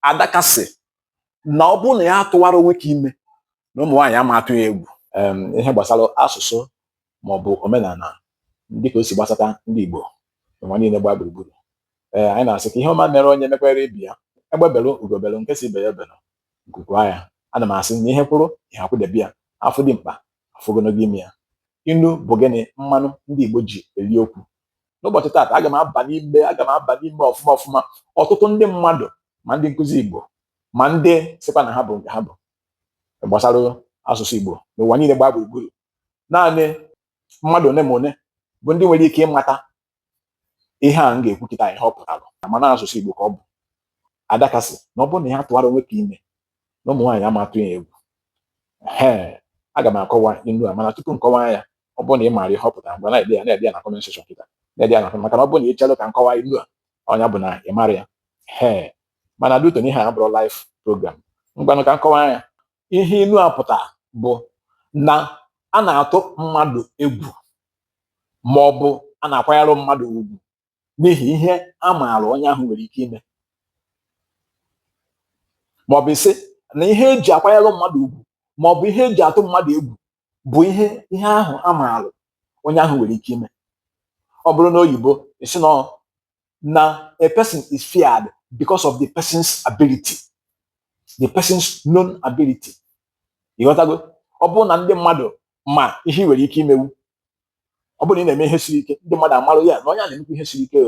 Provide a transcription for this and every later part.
adaka sị na ọ bụrụ na ya atụwarọ nwoke ime na ụmụ nwaanyị ama atụ ya egwu ihe gbasara asụsụ ma ọ bụ omenala dịka o si gbasata ndị Igbo ụwa niile gbaa gburugburu ee anyị na-asị ka ihe ọma mere onye mekwere ibe ya egbe belụ ugo belụ nke sị ibe ya ebena nku kwaa ya ana m asị na ihe kwụrụ ihe akwụdebe ya afụ dimkpa afụ ogologo imi ya inu bụ gịnị mmanụ ndị Igbo ji eli okwu n'ụbọchị taata aga m aba n'ime aga m aba n'ime ọfụma ọfụma ọtụtụ ndị mmadụ ma ndị nkuzi Igbo ma ndị sịkwa na ha bụ nke ha bụ gbasara asụsụ Igbo n'ụwa niile gbaa gburugburu naanị mmadụ one ma one bụ ndị nwere ike ịmata ihe a m ga-ekwu kịta ihe ọ pụtara mana asụsụ Igbo ka ọ bụ adaka sị na ọ bụrụ na ya atụwarọ nwoke ime na ụmụ nwaanyị ama atụ ya egwu ee aga m akọwa inu a mana tupu m kọwaa ya ọ bụrụ na ị maara ihe ọ pụtara ngwa na-ede ya na-ede ya na comment section kịta na-ede ya na maka na ọ bụrụ na ị chelụ ka m kọwaa inu a ọ nya bụ na ị marọ ya ee mana due to na ihe a abụrọ live program ngwanụ ka m kọwaa ya ihe inu a pụtara bụ na a na-atụ mmadụ egwu ma ọ bụ a na-akwanyere mmadụ ugwu n'ihi ihe a maara onye ahụ nwere ike ime maọbụ ị sị na ihe eji akwanyere mmadụ ugwu maọbụ ihe eji atụ mmadụ egwu bụ ihe ihe ahụ a maara onye ahụ nwere ike ime ọ bụrụ na oyibo ị sị na na a person is feared because of the person's ability the person's known ability ị ghọtago ọ bụrụ na ndị mmadụ ma ihe ị nwere ike imewu ọ bụrụ na ị na-eme ihe siri ike ndị mmadụ amara ya na onye a na-emekwa ihe siri ike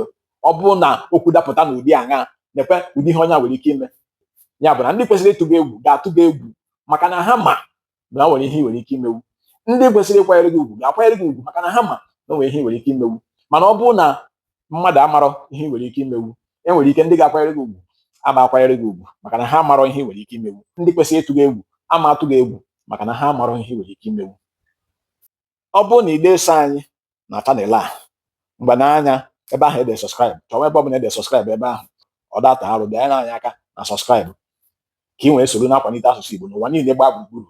ọ bụrụ na okwu dapụta n'ụdị aṅa nekwe ụdị ihe onye a nwere ike ime ya bụ na ndị kwesịrị ịtụ gị egwu ga-atụ gị egwu maka na ha ma na nwere ihe ị nwere ike imewu ndị kwesịrị ịkwanyere gị ugwu ga-akwanyere gị ugwu maka na ha ma na nwere ihe ị nwere ike imewu mana ọ bụrụ na mmadụ amarọ ihe ị nwere ike imewu enwere ike ndị ga-akwanyere gị ugwu ama akwanyere gị ugwu maka na ha amarọ ihe ị nwere ike imewu ndị kwesịrị ịtụ gị egwu ama atụ gị egwu maka na ha amarọ ihe ị nwere ike imewu ọ bụrụ na ị de eso anyị na channel a ngwa nee anya ebe ahụ ede subscribe chọwa ebe ọbụla ede subscribe ebe ahụ ọ da ata arụ bịanye aka na subscribe ka ị nwee soro na-akwanite asụsụ Igbo n'ụwa niile gbaa gburugburu